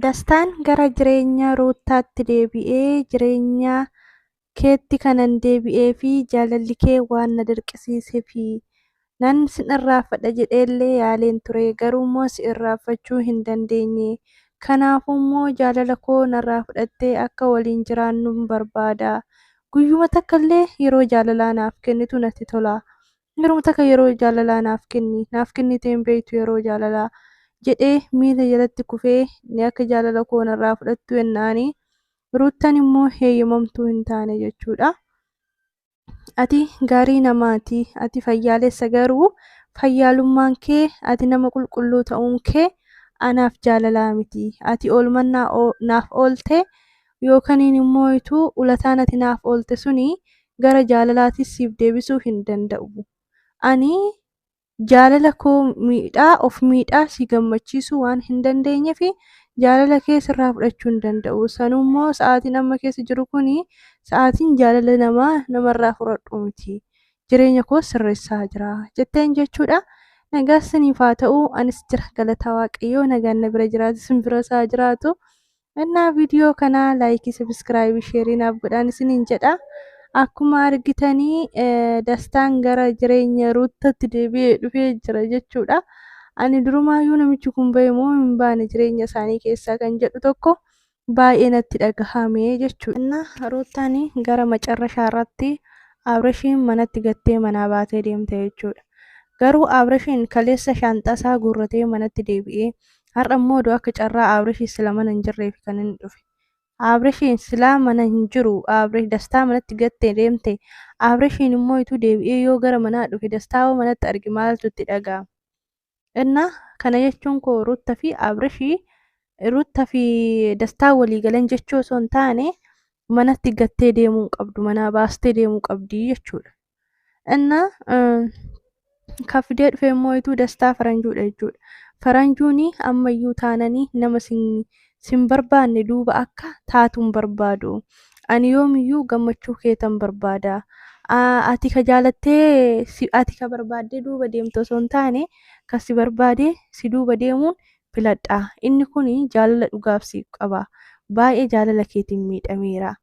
Dastaan gara jireenya Ruuttaatti deebi'ee jireenya keetti kanan deebi'ee fi jaalalli kee waan na dirqisiiseefi. Nan sin irraanfadha jedhee illee yaaleen ture, garuu immoo si irraanfachuu hin dandeenye. Kanaafuu immoo jaalala koo narraa fudhattee akka waliin jiraannun barbaada. Guyyuma takka illee yeroo jaalalaa naaf kennitu natti tola. Yeroo takka yeroo jaalalaa naaf kenni naaf kennitee hin beektu yeroo jaalalaa jedhee miila jalatti kufee ni akka jaalala koo narraa fudhattu jennaani ruuttan immoo heeyyamamtuu hin taane jechuudha. Ati gaarii namaati ati fayyaalessa garuu fayyaalummaan kee ati nama qulqulluu ta'uun kee anaaf jaalalaa miti ati oolmannaa naaf oolte Yookaniin immoo utuu ulataan ati naaf oolte suni gara jaalalaatiis siif deebisuu hin danda'u. Ani jaalala koo miidhaa, of miidhaa si gammachiisuu waan hin dandeenyeef jaalala kee sirraa fudhachuu hin danda'u. Sanuu immoo sa'aatiin amma keessa jiru kun sa'aatiin jaalala namaa namarraa fudhadhu miti. Jireenya koos sirreessaa jira. Jetteen jechuudha. Nagaan siniif haa ta'u. Anis jira galataa Waaqayyoo nagaan na bira jiraate sin biras haa jiraatu. Innaa viidiyoo kanaa laayikii sabiskiraaybii sheerii naaf godhaan isiniin jedha. Akkuma argitanii dastaan gara jireenya ruuttatti deebi'ee dhufee jira jechuudha. Ani durumaayyuu namichi kun ba'e moo hin baane jireenya isaanii keessaa kan jedhu tokko baay'ee natti dhagahame jechuudha. Innaa ruuttaan gara macarrashaa irratti Abreshiin manatti gattee manaa baatee deemte jechuudha. Garuu Abreshiin kaleessa shaanxasaa guurratee manatti deebi'ee Har'a immoo oduu akka carraa Aabresh sila mana hin jirreef kan inni dhufe. Aabreshiin silaa mana hin jiru. Aabresh dastaa manatti gattee deemte. Aabreshiin immoo ituu deebi'ee yoo gara manaa dhufe dastaa hoo manatti arge maaltu itti dhaga'ama. Innaa kana jechuun koo Ruutta fi Aabreshii Ruutta fi dastaa walii galan jechuu osoo hin taane manatti gattee deemuu hin qabdu manaa baastee deemuu qabdi jechuudha. እና kafidee dhufee immoo ituu dastaa faranjuudha jechuudha faranjuuni ammayyuu taananii nama sin sin barbaanne duuba akka taatuun barbaadu ani yoomiyyuu gammachuu keetan barbaada ati ka jaalattee ati ka barbaaddee duuba deemtu osoo hin taane ka si barbaadee si duuba deemuun filadha inni kun jaalala dhugaaf siif qaba baay'ee jaalala keetiin miidhameera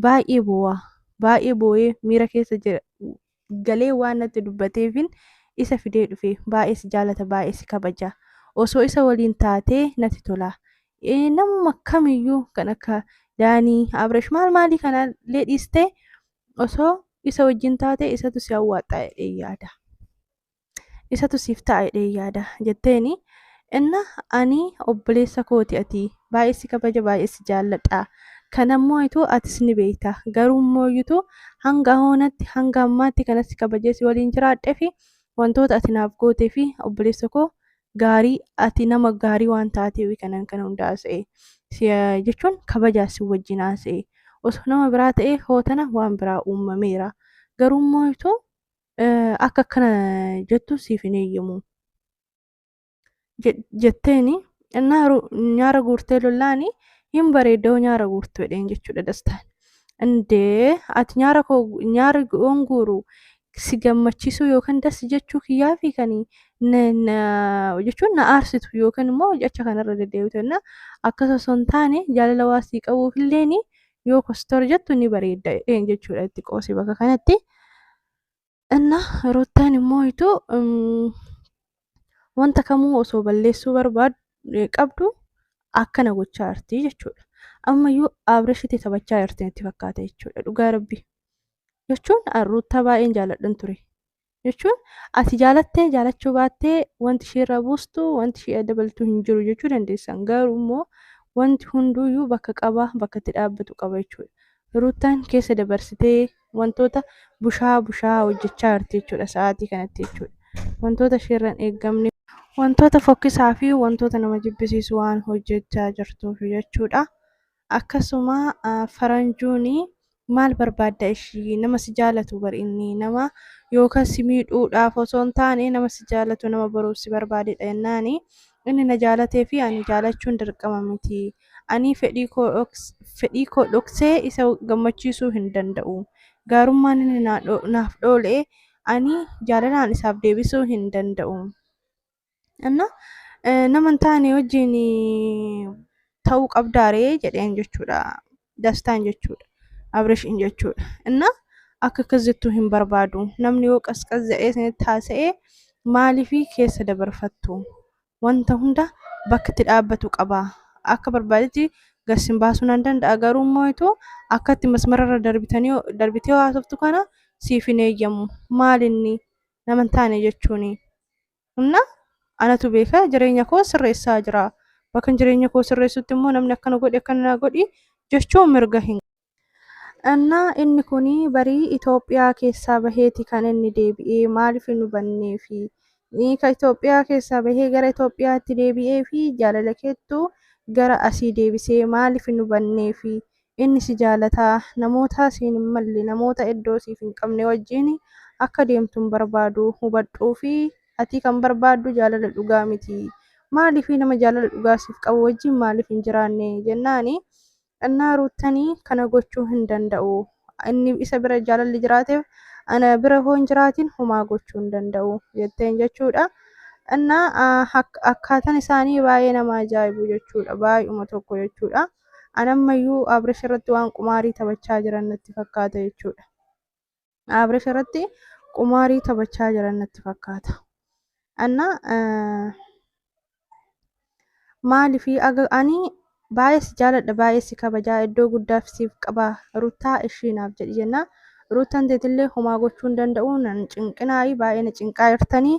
baay'ee boo'a. Baay'ee boo'ee miira keessa jira. Galee waan natti dubbateefin isa fidee dhufe. Baay'ee si jaalata, baay'ee si kabaja. Osoo isa waliin taatee natti tola. Eh, Namuma kamiyyuu kan akka Daanii, Abresh maal maalii kana illee dhiistee osoo isa wajjin taate isatu si hawwaadha jedhee yaada. isatu siif ta'a jedhee yaada jetteeni inna ani obboleessa kooti ati baay'ee si kabaja baay'ee si jaalladha kanammoo ituu atis ni beekta garuu immoo iyyutu hanga hoonatti hanga ammaatti kana si kabajee si waliin jiraadhee fi wantoota ati naaf gootee fi obboleessa koo gaarii ati nama gaarii waan taateef kanan kana hunda haasa'e si jechuun kabajaa si wajjin haasa'e osoo nama biraa ta'ee hootana waan biraa uumameera garuu immoo ituu akka akkana jettu siif hin eeyyamu jetteeni nyaara guurtee lollaani hin bareeddoo nyaara guurtu jedheen jechuudha dastaan. Indee ati nyaara koo nyaara yoon guuru si gammachiisuu yookaan das jechuu kiyyaa fi kan jechuun na aarsitu yookaan immoo jecha kanarra deddeebitu jenna. Akkas osoo hin taane jaalala waa sii qabuuf illeen yoo kostor jettu ni bareedda jedheen jechuudha itti qoosi bakka kanatti. Inna ruttaan immoo itu wanta kamuu osoo balleessuu barbaadu qabdu akkana gochaa jirti jechuudha. Ammayyuu Abrishitti taphachaa jirti natti fakkaata jechuudha dhugaa rabbi. Jechuun ruttaa baay'een jaaladhan ture. jechuun ati jaalattee jaalachuu baattee wanti ishee irraa buustu wanti ishee dabaltu hin jiru jechuu dandeessan garuu immoo wanti hunduuyyuu bakka qaba bakka itti dhaabbatu qaba jechuudha. Ruuttaan keessa dabarsitee wantoota bushaa bushaa hojjechaa jirti jechuudha sa'aatii kanatti jechuudha. Wantoota isheerran eeggamne wantoota fokkisaa fi wantoota nama jibbisiisu waan hojjechaa jirtuuf jechuudha. akkasuma faranjuuni maal barbaadda ishii nama si jaalatu bar inni nama yookaan si miidhuudhaaf osoo hin taane nama si jaalatu nama boruuf si barbaadedha jennaani inni na jaalatee fi ani jaalachuun dirqama miti ani fedhii koo dhoks- fedhii koo dhoksee isa gammachiisuu hin danda'u gaarummaan inni naa dho- naaf dhoole ani jaalalaan isaaf deebisuu hin danda'u Anna nama hin taane wajjin ta'uu qabdaaree jedheen jechuudha. Dastaan jechuudha. Abrishiin jechuudha. Inna akka akkas jettu hin barbaadu. Namni yoo qasqas jedhee isinitti haasa'ee maaliif keessa dabarfattu? Wanta hunda bakkatti dhaabbatu qaba. Akka barbaadetti gassin baasuu nan danda'a garuu immoo itoo akkatti masmararra darbitanii darbitee haasoftu kana siif hin eeyyamu. Maalinni nama hin taane jechuuni. Humna anatu beeka jireenya koo sirreessaa jira. Bakka jireenya koo sirreessutti immoo namni akkana godhi akkana na godhi jechuu mirga hin Anna inni kun barii Itoophiyaa keessaa baheeti kan inni deebi'ee maaliif hin hubannee fi ka Itoophiyaa keessaa bahee gara Itoophiyaatti deebi'ee fi jaalala keettu gara asii deebisee maaliif hin hubannee fi Inni si jaalata, namoota siin hin malle, namoota iddoo siif hin qabne wajjin akka deemtu hin barbaadu. Hubadhuu fi ati kan barbaaddu jaalala dhugaa miti. Maaliif nama jaalala dhugaa siif qabu wajjin maaliif hin jiraanne? jennaan innaa Ruuttan kana gochuu hin danda'u. Inni isa bira jaalalli jiraateef ana bira hoo hin jiraatin homaa gochuu hin danda'u jetteen jechuudha. Innaa akkaataan isaanii baay'ee nama ajaa'ibu jechuudha. Baay'uma tokko jechuudha. An ammayyuu Abrish irratti waan qumaarii taphachaa jiran natti fakkaata jechuudha. Abrish irratti qumaarii taphachaa jiran natti fakkaata. Anna maalifi aga ani baay'ee si jaaladha baay'ee si kabajaa iddoo guddaaf siif qaba ruttaa ishii naaf jedhi jennaa Ruuttan teetillee homaa gochuu hin danda'u nan cinqinaa'i baay'ee na cinqaa jirtanii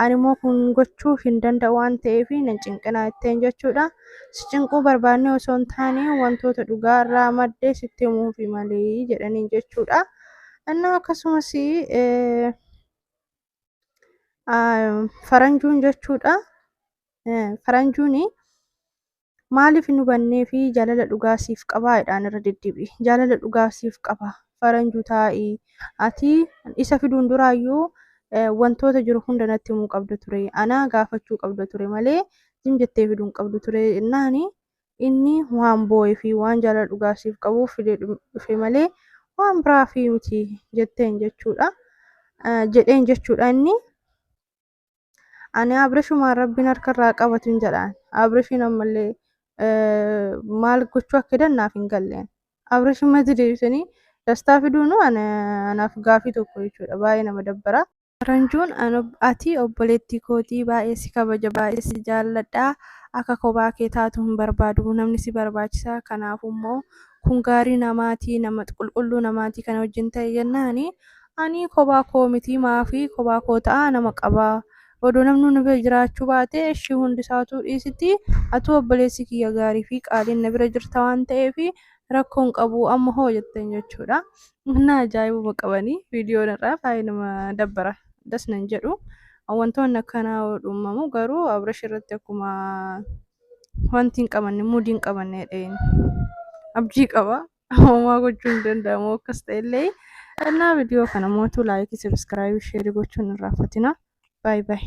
ani immoo kun gochuu hin danda'u waan ta'eef nan cinqinaa jetteen jechuudha. Si cinquu barbaannee osoo hin taane wantoota dhugaa irraa madde sitti himuufi malee jedhaniin jechuudha. Innaa akkasumas faranjuun jechuudha. Faranjuun Maaliif hin hubannee fi jaalala dhugaa siif qabaa jedhaan irra deddeebi'i. Jaalala dhugaa siif qaba. Faranju taa'i. Ati isa fiduun duraayyuu wantoota jiru hunda natti himuu qabda ture. Anaa gaafachuu qabda ture malee zim jettee fiduun qabdu ture jennaani inni waan boo'ee fi waan jaalala dhugaa siif qabuuf fidee dhufe malee waan biraa fi miti jetteen jechuudha. Jedheen jechuudha inni. ani abrishumaan rabbiin harka irraa qabatu hin jedhaan abrishiin ammallee eh, maal gochuu akka jedhan naaf hin galleen abrishiin mati deebisanii dastaa fiduunu ana- anaaf gaafii tokko jechuudha baay'ee nama dabbara. Ranjuun an ob- ati obboleettii kootii baay'ee si kabaja baay'ee si jaalladha akka kophaa kee taatu hin barbaadu namni si barbaachisa kanaafuu immoo kun gaarii namaatii nama qulqulluu namaatii kana wajjin ta'e jennaani Anii kobaa koo mitii maafi kobaa koo ta'aa nama qabaa odoo namnuu na bira jiraachuu baatee eshii hundi isaa utuu dhiisitii atuu obboleessi kiyya gaarii fi qaaliin na bira jirta waan ta'eef rakkoo hin qabuu amma hoo jetteen jechuudha na ajaa'ibuma qabanii viidiyoon irraa baay'ee nama dabbara das nan jedhu wantoonni akkanaa yoo dhummamu garuu abrash irratti akkuma wanti hin qabanne muudii hin qabanne dheen abjii qaba homaa gochuu hin danda'amu akkas ta'ellee kannaa viidiyoo kana mootuu laayikii sabiskiraayib sheerii gochuun irraa fatina baay baay.